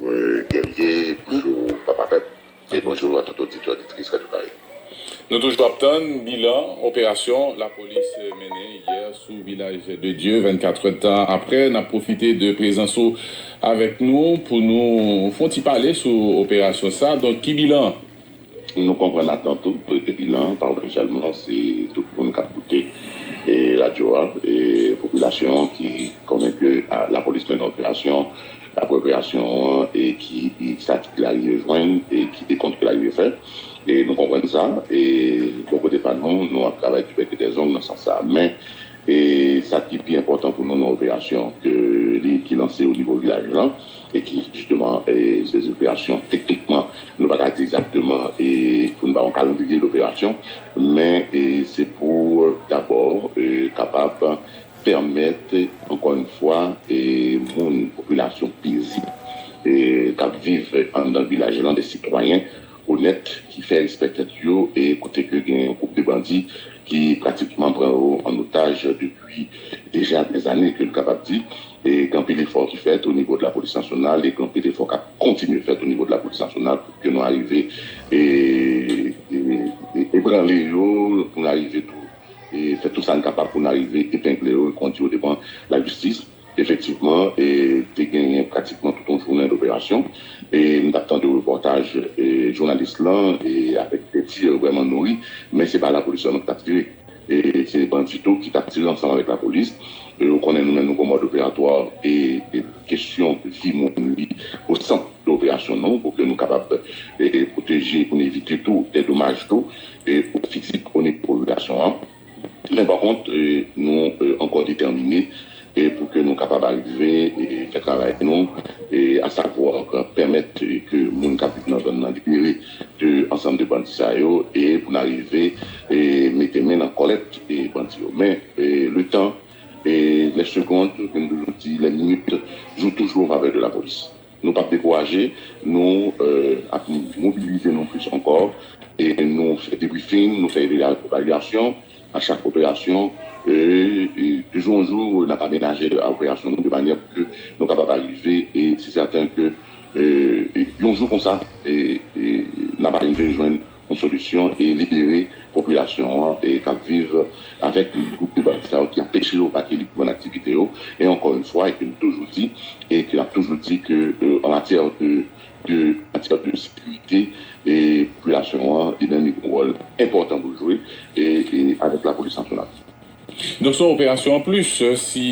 Mwen Guerrier, bonjou papa pèp e bonjou a tout oditè oditris Radio Caraïbes. Nou toujou ap tann bilan operasyon lapolis mennen yè sou vilaj de Dye 24 rèd tan aprè nap pwofite de prezans ou avèk nou pou nou fon ti pale sou operasyon sa donk ki bilan Nou konprann atant ou prete bilan an pa ou sèlman, se tout moun k ap koute radyo a, popilasyon an ki konnen ke lapolis mennen operasyon apre operasyon an e ki sa ki te arive jwenn e ki dekont ki arive fè. Nou konprann sa e bò kote pa nou, nou ap travay du bec et des ongles nan sans sa a. Men, sa ki pi enpòtan pou nou nan operasyon ke li ki lanse o nivo vilaj lan, e ki jisteman se zoperasyon teknikman nou pa ka di egzakteman pou n ba yon kalandriye doperasyon men se pou dabò kapab pèmèt ankò yon fwa moun popilasyon pezib k ap viv anndan vilaj lan de sitwayen onèt ki fè respè tèt yo e kote ke gen yon gwoup de bandi ki pratikman pran yo an otaj depi deja dèz ane ke n kapab di e gen anpil efò ki fèt o nivo de lapolis nasyonal e gen anpil efò k ap kontinye fèt o nivo de lapolis nasyonal pou ke nou arive ebranle yo pou nou arive tou fè tou sa n kapab pou nou arive epengle yo e kondi yo devan lajistis. Efektivman, te genyen pratikman tout yon jounen doperasyon. M t ap tande repòtaj jounalis lan avèk de tir vrèman nouri, men se pa lapolis sèlman ki t ap tire. Se bandi tou ki t ap tire ansanm avèk lapolis. Ou konnen nou menm nou gon mòd operatwa e kesyon vi moun li o sant de operasyon nou pou ke nou kapab pwoteje e pou n evite tou de domaj tou o fizik o nivo popilasyon an. Men pa kont, nou ankò detèmine pou ke nou kapab arive fè travay nou, a savwa pèmèt ke moun k ap viv nan zòn nan libere de ansanm de bandi sa yo e pou n arive mete men nan kòlèt bandi yo. Men le tan, les secondes, ke m toujou di, les minutes, jou toujou an favè de lapolis. Nou pap dekouraje, nou ap mobilize nou plis ankò e nou fè debriefing, nou fè evalyasyon a chak operasyon e de jou an jou n ap amenaje operasyon nou de manyè pou ke nou kapab arive e se sèten ke yon jou konsa n ap arive jwenn yon solisyon e libere popilasyon an k ap viv avèk gwoup de bandi sa yo ki anpeche yo vake lib reprann aktivite yo e ankò yn fwa e ke nou toujou di e ke n ap toujou di ke an matyè de de an matyè de sekirite e popilasyon an li menm li gen wòl enpòtan pou l jwe e avèk lapolis nasyonal. Donk se yon operasyon anplis si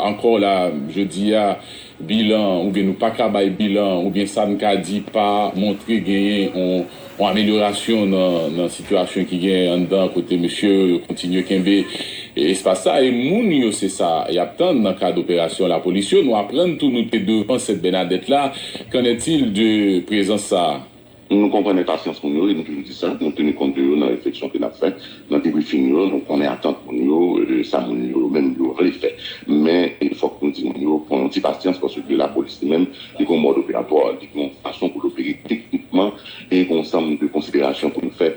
ankò la jodi a bilan oubyen nou pa ka bay bilan oubyen sa n ka di pa montre genyen yon amelyorasyon nan sitiyasyon ki genyen anndan kote mesye yo yo kontinye kenbe espas sa e moun yo se sa y ap tann nan kad operasyon lapolis yo nou aprann tou nou te devan Sent Bènadèt la kennètil de prezans sa a. Nou konprann enpasyans moun yo e nou toujou di sa, nou teni kont de yo nan refleksyon ke nap fè, nan debriefing yo, nou konnen atant moun yo, sa moun yo menm yo vle fè. Men fòk nou di moun yo pran yon ti pasyans paske ke lapolis li menm li gen yon mòd operatwa, li gen yon fason pou l opere teknikman e gen yon ansanm de konsiderasyon pou nou fè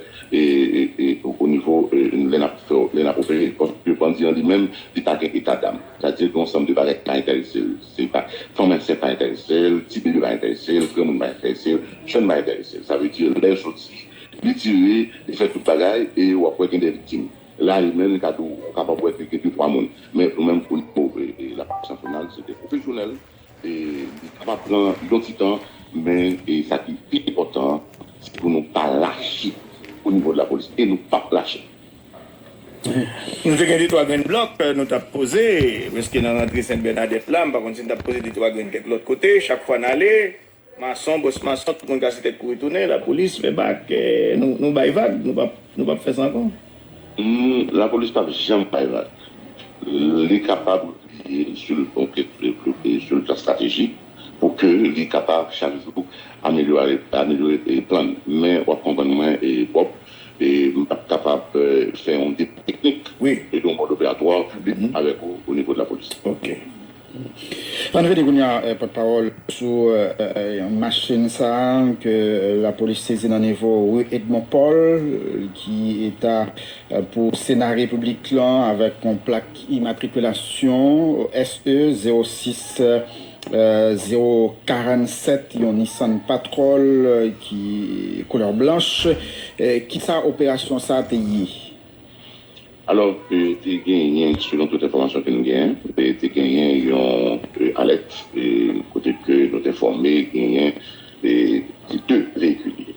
o nivo lè nap fè lè nap opere paske bandi an li menm li pa gen etadam sa di gen yon ansanm de bagay ki pa enterese l. Se pa fanm ansent pa enterese l, ti bebe pa enterese l, granmoun pa enterese l, jèn pa enterese l. Sa vle di lè soti, li tire, li fè tout bagay e w ap wè gen de viktim. La yo menm li ka di w ou kapab wè ke gen de twa moun. Men nou menm pou nou l ap san pou nan, se de pwofesyonèl e li kapab pran yon ti tan men sa ki pi enpòtan se pou nou pa lache o nivo de lapolis e nou p ap lache. Nou te gen de twa grenn blòk nou t ap poze prèske nan rantre Sent Bènadèt la. M pa konn si n t ap poze de twa grenn kèk lòt kote. Chak fwa n ale, mason, bòs mason, tout moun kase tèt kouri tounen. Lapolis fè bak, nou bay vag, nou p ap fè sa ankò. Lapolis p ap janm bay vag. Li kapab repliye si l ta estratejik pou ke li kapab chak jou amelyore plan li. Men w ap konprann mwen, Bob. M tap kapab fè yon deba teknik e yon mòd operatwa piblik avèk ou o nivo de lapolis. Ok. Ann rete kounye a pòtpawòl sou machin sa a ke lapolis sezi nan nivo ri Edmon Pòl ki ta pou sena repiblik lan avèk yon plak. Imatrikilasyon SE 06 047, yon Nissan Patrol ki koulè blanch. Kisa operasyon sa te ye? Alò, te genyen, selon tout enfòmasyon ke nou genyen, te genyen yon alèt kote ke nou te enfòme genyen se 2 veyikil li ye.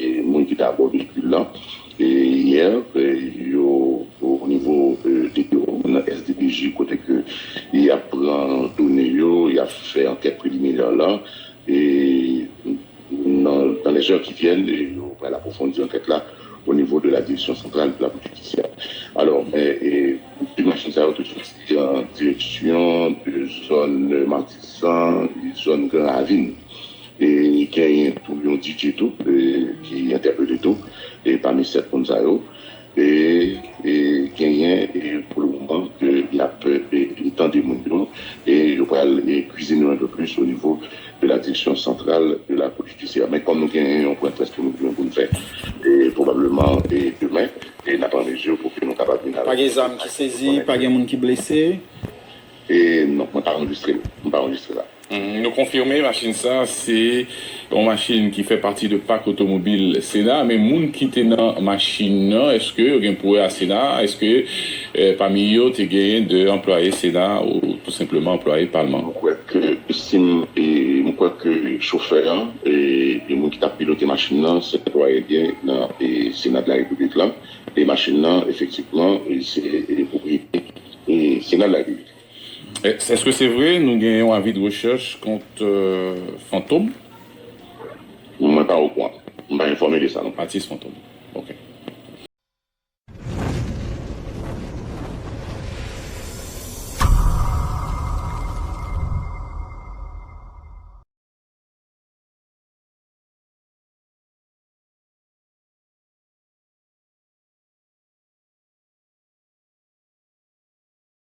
Moun ki te abò veyikil la yè yo o nivo depo nan SDPJ kote ke y ap pran done yo, y ap fè ankèt preliminè la e nan lèzè ki vyèn yo pral apwofondi ankèt la o nivo de la Direksyon Santral de la Polis Jidisyè. Alò, de machin sa yo te soti an direksyon de zòn Matisan, zòn Gran Ravin. E genyen tou yon DJ tou ki entèpele tou e pami 7 moun sa yo e genyen e pou le moman ke yap e tande moun yo e yo pral e kwizine yon peu plis o nivo de la direksyon santral de la kou jidisyè. Men kòm nou genyen yon pwen près ke nou gen pou nou fè e pwobableman e demen e nap an mezi pou ke nou kapab vin avèk yon detay pou nou konnen. Pa gen zam ki sezi, pa gen moun ki blese? E non, mwen pa anrejistre l, mwen pa anrejistre la. Nou konfime machin sa se yon machin ki fè pati de pak otomobil sena men moun ki te nan machin nan eske yo gen pou wè a sena eske pami yo te genyen de anplwaye sena ou tou senpleman anplwaye palman. M kwè ke si m m kwè ke chofè an e moun ki t ap pilote machin nan se anplwaye gen nan sena de la repiblik la e machin nan efektivman se pwopriyete sena de la repiblik. Eske se vre nou gen yon avi de rechèch kont Fantom? Mwen pa okouan. M pa enfòme de sa non. Atis Fantom. Ok.